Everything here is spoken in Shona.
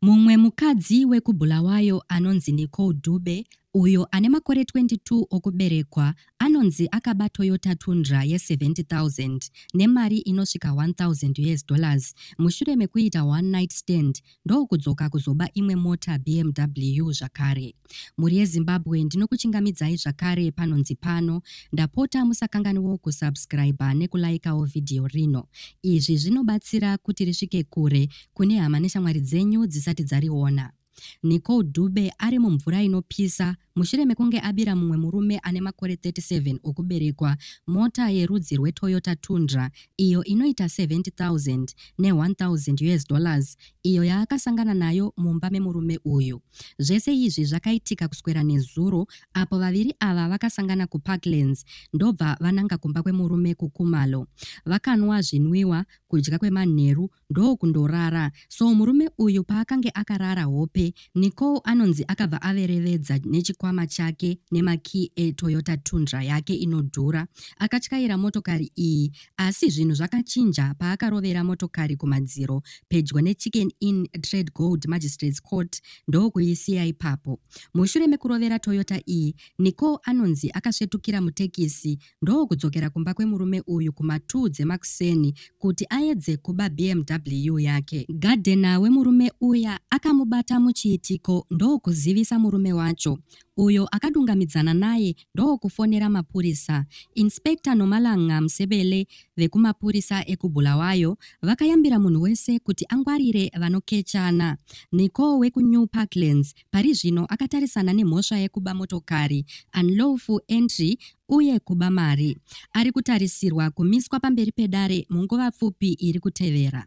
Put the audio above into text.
Mumwe mukadzi wekuBulawayo anonzi Nicole Dube uyo ane makore 22 okuberekwa anonzi akaba Toyota Tundra ye70,000 nemari inosvika 1,000 US dollars mushure mekuita one night stand ndokudzoka kuzoba imwe mota BMW zvakare. Mhuri yeZimbabwe ndinokuchingamidzai zvakare panonzi pano. Ndapota musakanganiwo kusubscribe nekulaikawo vhidhiyo rino. Izvi zvinobatsira kuti risvike kure kune hama neshamwari dzenyu dzisati dzariona. Nicole Dube ari mumvura inopisa mushure mekunge abira mumwe murume ane makore 37 okuberekwa mota yerudzi rweToyota Tundra iyo inoita 70,000 ne 1000 US dollars iyo yaakasangana nayo mumba memurume uyu. Zvese izvi zvakaitika kuswera nezuro apo vaviri ava vakasangana kuParklands ndobva vananga kumba kwemurume kuKumalo. Vakanwa zvinwiwa, kudya kwemanheru ndokundorara. So murume uyu paakange akarara hope, Nicole anonzi akabva averevedza nechikwama chake nemakey eToyota Tundra yake inodhura. Akatyaira motokari iyi Asi zvinhu zvakachinja paakarovera motokari kumadziro pedyo neChicken Inn Trade Gold Magistrates Court ndokuisiya ipapo. Mushure mekurovera Toyota iyi, Nicole anonzi akasvetukira mutekisi ndokudzokera kumba kwemurume uyu kuma 2 dzemakuseni kuti aedze kuba BMW yake. Gadhena wemurume uya akamubata muchiitiko ndokuzivisa murume wacho Uyo akadungamidzana naye ndokufonera mapurisa. Inspector Nomalanga Musebele vekumapurisa ekuBulawayo vakayambira munhu wese kuti angwarire vanokechana. Nicole wekuNew Parklands pari zvino akatarisana nemhosva yekuba motokari, unlawful entry uye kuba mari. Ari kutarisirwa kumiswa pamberi pedare munguva pfupi iri kutevera.